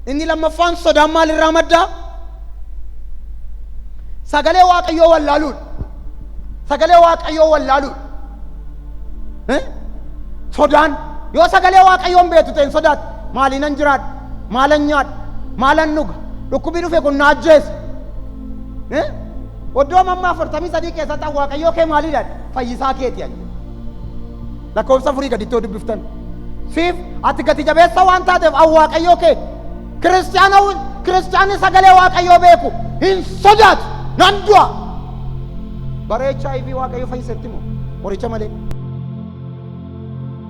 Inni lammaffaan sodaan maal irraa madda? Sagalee Waaqayyoo wallaaluudha. Sagalee Waaqayyoo wallaaluudha. Eh? Sodaan yoo sagalee Waaqayyoon beektu ta'e hin sodaatu. Maaliinan jiraadha? Maalan nyaadha? Maalan dhuga? Dhukkubii dhufe kun na ajjeesa. Eh? Oddoo mamma afurtamii sadii keessatti Waaqayyoo kee maalidha? Fayyisaa keeti ani. Lakkoofsa afurii gaditti yoo dubbiftan. Siif ati gati jabeessa waan taateef an waaqayyoo kee kiristiyaana kiristiyaanni sagalee waaqayyoo beeku hin sodaatu nan du'a. Bara HIV waaqayyo fayyisetti moo qoricha malee.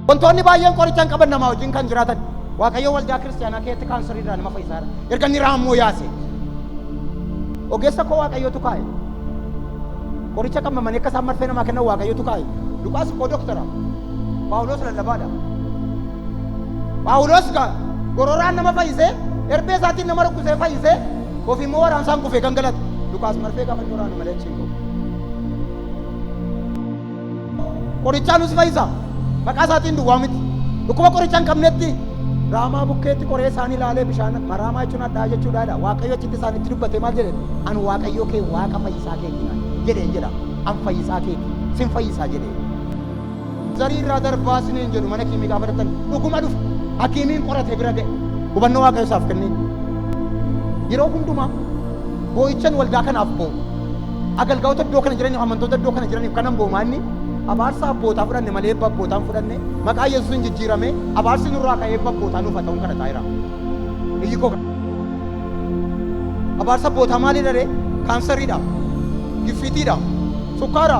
Wantoonni baay'een qoricha hin qaban namaa wajjin kan jiraatan waaqayyo waldaa kiristiyaanaa keessatti kaansarii irraa nama fayyisaa jira. Erga inni raammoo yaase. Ogeessa koo waaqayyootu kaa'e. Qoricha qammamanii akka isaan marfee namaa kennan Waaqayyotu kaa'e. Luqaas immoo doktara. Phaawulos lallabaadha. Phaawulos ka gororaan nama fayyisee, erbee isaatiin nama rukkutee fayyisee, ofii immoo waraansaan kufee gangalate. Luqaas marfee gaafa inni waraanu malee achi hin qabu. Qorichaa nus fayyisa. Maqaa isaatiin duwwaa miti. Dhukkuba qoricha hin qabnetti raamaa bukkeetti qoree isaanii ilaalee bishaan maraamaa jechuun addaa jechuudha jedha. Waaqayyo achitti isaanitti dubbate maal jedhe? An waaqayyoo kee waaqa fayyisaa keeti naan jedheen jedha. An fayyisaa keeti sin fayyisaa jedhee. Zarii irraa darbaa siniin jedhu mana kiimii gaafa dhaqxan dhuguma dhufu hakiimiin qorate bira ga'e. Hubannoo waaqayyo isaaf kennee. Yeroo hundumaa boo'ichan waldaa kanaaf boo'u. Agalgaa'ota iddoo kana jiraniif amantoota iddoo kana jiraniif kanan boomaanni abaarsa abbootaa fudhanne malee eebba abbootaa hin fudhanne maqaa Yesuusiin jijjiirame abaarsi nurraa ka'ee eebba abbootaa nuuf haa ta'uun kadhataa jira. Iyyi koo kana. Abaarsa abbootaa maalidha ree? Kaansariidha? Giffiitiidha? Sukkaara?